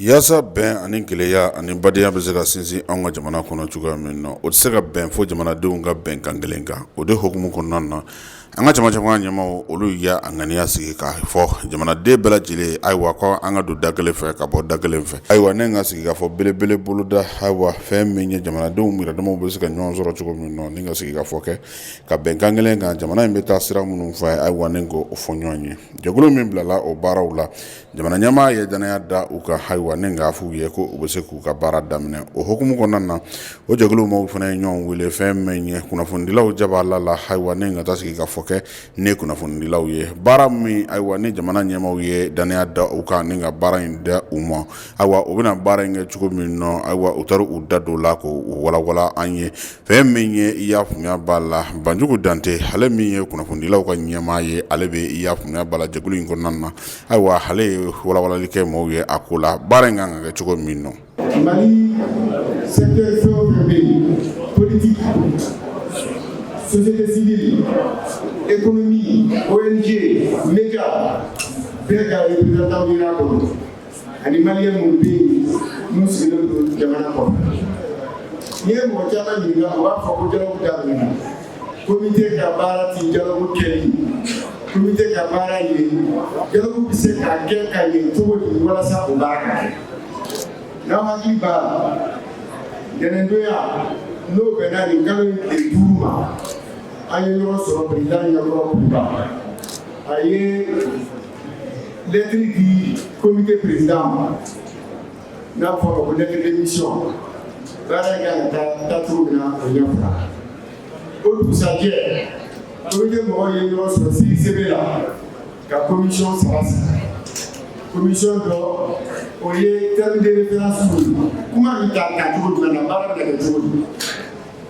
yaasa bɛn ani kelenya ani badenya bɛ se ka sinsin an ka jamana kɔnɔ cogoya min na o tɛ se ka bɛn fo jamanadenw ka bɛn kan kelen kan o de hukumu kɔnɔna na an ka jama jamana ɲɛmaaw olu y'a ŋaniya sigi k'a fɔ jamanaden bɛɛ lajɛlen ayiwa ko an ka don da kelen fɛ ka bɔ da kelen fɛ ayiwa ni ka sigikafɔ belebele boloda ayiwa fɛn min ye jamanadenw yɛrɛdamaw bɛ se ka ɲɔgɔn sɔrɔ cogo min na ni ka sigikafɔ kɛ ka bɛn kan kelen kan jamana in bɛ taa sira minnu fɛ ayiwa ni k'o fɔ ɲɔgɔn ye jɛkulu min bilala o baaraw la jamana ɲɛmaa ye dannaya da u kan ayiwa ni k'a f'u ye ko u bɛ se k'u ka baara daminɛ o hukumu kɔnɔna na o jɛkulu maaw fana ye ɲɔgɔn wele fɛn min ye kunnafonidilaw jaba la la ayiwa ni ka taa sigikafɔ kɛ ni kunnafonidilaw ye baara min ayiwa ni jamana ɲɛmaaw ye dannaya da u kan ni ka baara in da u ma ayiwa u bɛna baara in kɛ cogo min na ayiwa u taara u da don o la k'o walawala an ye fɛn min ye i y'a faamuya b'a la banjugu dante ale min ye kunnafonidilaw ka ɲɛmaa ye ale bɛ i y'a faamuya b'a la jɛkulu in kɔnɔna na ayiwa ale ye walawalali kɛ maaw ye a ko la baara in kan ka kɛ cogo min na ani maliyɛn minnu bɛ yen n'u sigilen don jamana kɔnɔ n'i ye mɔgɔ caman ɲininka u b'a fɔ ko dialogue daminɛna komite ka baara tɛ dialogue kɛli komite ka baara ye dialogue bɛ se ka kɛ ka ɲɛ cogo di walasa o baara ka kɛ n'aw hakili b'a la ntɛnɛndonya n'o bɛnna nin kalo in tile duuru ma an ye ɲɔgɔn sɔrɔ perezidan ɲɛkɔrɔ kuluba a ye lɛtiri di komite perezidan ma n'a fɔra ko lettre de mission baara in kan ka taa cogo min na o ɲɛfɔra o dugusajɛ komite mɔgɔw ye ɲɔgɔn sɔrɔ CICB la ka komisɔn saba sigi komisɔn dɔ o ye terme de référence kuma bɛ ta ta cogo jumɛn na baara bɛ kɛ cogo di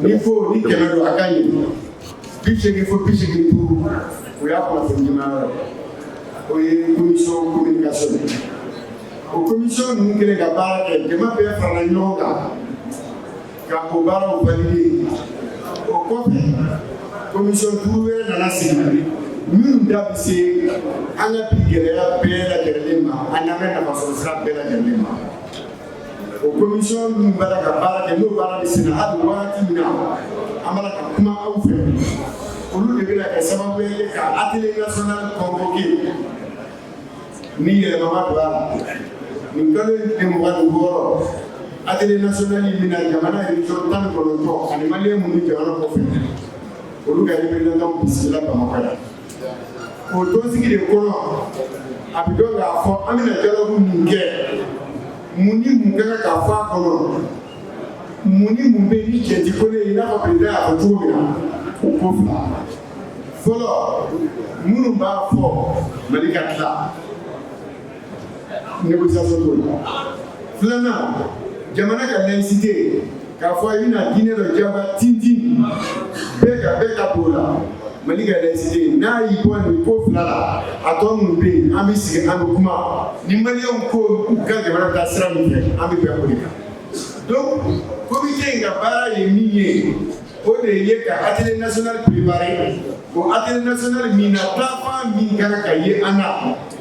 ni fo ni kɛmɛ don a ka ɲɛ bi seegin fo bi seegin ni duuru o y'a kunnafoni jama o ye commission communication o commission ninnu kɛlen ka baara kɛ jama bɛɛ farala ɲɔgɔn kan ka o baaraw validé o kɔfɛ commission duuru wɛrɛ nana sigi minnu da bɛ se an ka bi gɛlɛya bɛɛ lajɛlen ma ani an ka nafasɔrɔsira bɛɛ lajɛlen ma o commission minnu bɛ ka baara kɛ n'o baara bɛ sen na hali waati min na an bɛ ka kuma aw fɛ olu de bɛna kɛ sababu ye ka atelier national convoqué ni yɛlɛma ma don a la nin kalo in tile mugan ni wɔɔrɔ atelier national in bɛna jamana région tan ni kɔnɔntɔn ani maliyɛn minnu bɛ jamana kɔfɛ olu ka représentant bisimila Bamakɔ yan. o tɔnsigi de kɔnɔ a bɛ dɔn k'a fɔ an bɛna dialogue min kɛ mun ni mun ka kan ka fɔ a kɔnɔ mun ni mun bɛ yen ni cɛ ti ko ne ye i n'a fɔ président y'a fɔ cogo min na o ko fila fɔlɔ minnu b'a fɔ Mali ka tila négociation t'o la filanan jamana ka laïcité k'a fɔ i bɛna diinɛ dɔ jagoya tintin bɛɛ kan bɛɛ ka don o la Mali ka laïcité n'a y'i bɔ nin ko fila la a tɔ minnu bɛ yen an bɛ sigi an bɛ kuma ni maliyɛnw ko u ka jamana bɛ taa sira min fɛ an bɛ bɛn o de kan donc comité in ka baara ye min ye o de ye ka atelier national préparer o atelier national min na taafan min kan ka ye an na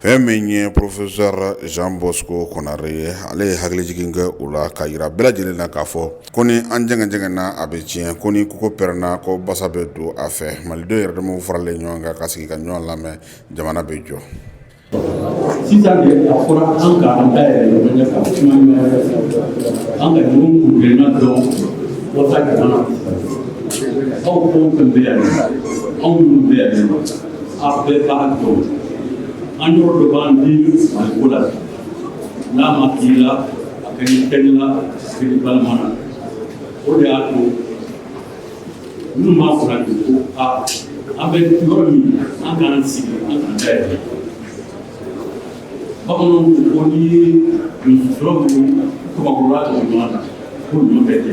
fɛn min ye professeur Jean Bosco Konaré ye ale ye hakilijigin kɛ o la ka jira bɛɛ lajɛlen na k'a fɔ ko ni an jɛngɛnna a bɛ tiɲɛ ko ni kogo pɛrɛnna ko basa bɛ don a fɛ malidenw yɛrɛ damaw faralen ɲɔgɔn kan ka sigi ka ɲɔgɔn lamɛn jamana bɛ jɔ A bɛɛ b'a dɔn, an yɔrɔ dɔ b'an di Maliko la n'a ma k'i la a kɛ ni kɛli la sigi balima na o de y'a to minnu b'a fɔ la de ko a an bɛ yɔrɔ min an k'an sigi an k'an dayɛlɛ bamananw ko ko n'i ye musokɔrɔnin kɔmakɔrɔla tɛmɛ ɲɔgɔn na ko ɲɔ bɛ kɛ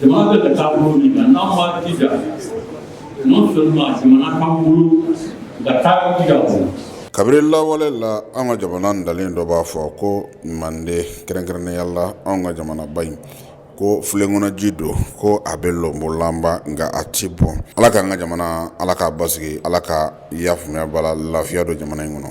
Jamana bɛ ka taa bolo min na n'an b'a jija non seulement jamana k'an bolo ka taa jija o la. Kabiri lawale la, an ka jamana ntalen dɔ b'a fɔ ko mande kɛrɛnkɛrɛnnenya la an ka jamanaba in ko filenkɔnɔji don ko a bɛ lɔnbolanba nka a tɛ bɔn ala k'an ka jamana ala k'a basigi ala ka yaafuya bala lafiya don jamana in kɔnɔ